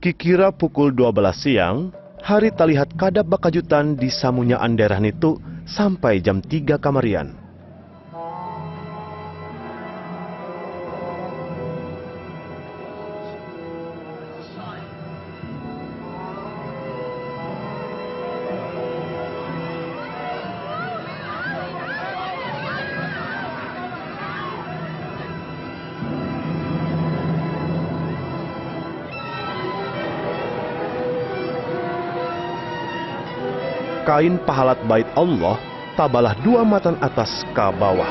Kikira pukul dua balas siang, hari talihat kada bakajutan di samunyaan daerah nitu sampai jam tiga kamarian. Kain pahalat Bait Allah tabalah dua matan atas ka bawah.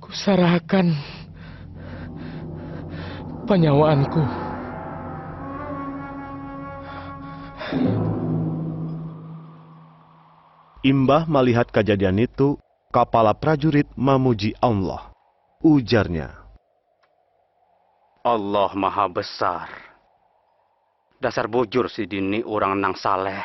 Kusarahakan panyawaanku. Imbah malihat kajadian nitu, kapala prajurit mamuji Allah. Ujarnya. Allah maha besar. Dasar bujur sidin ni urang nang saleh.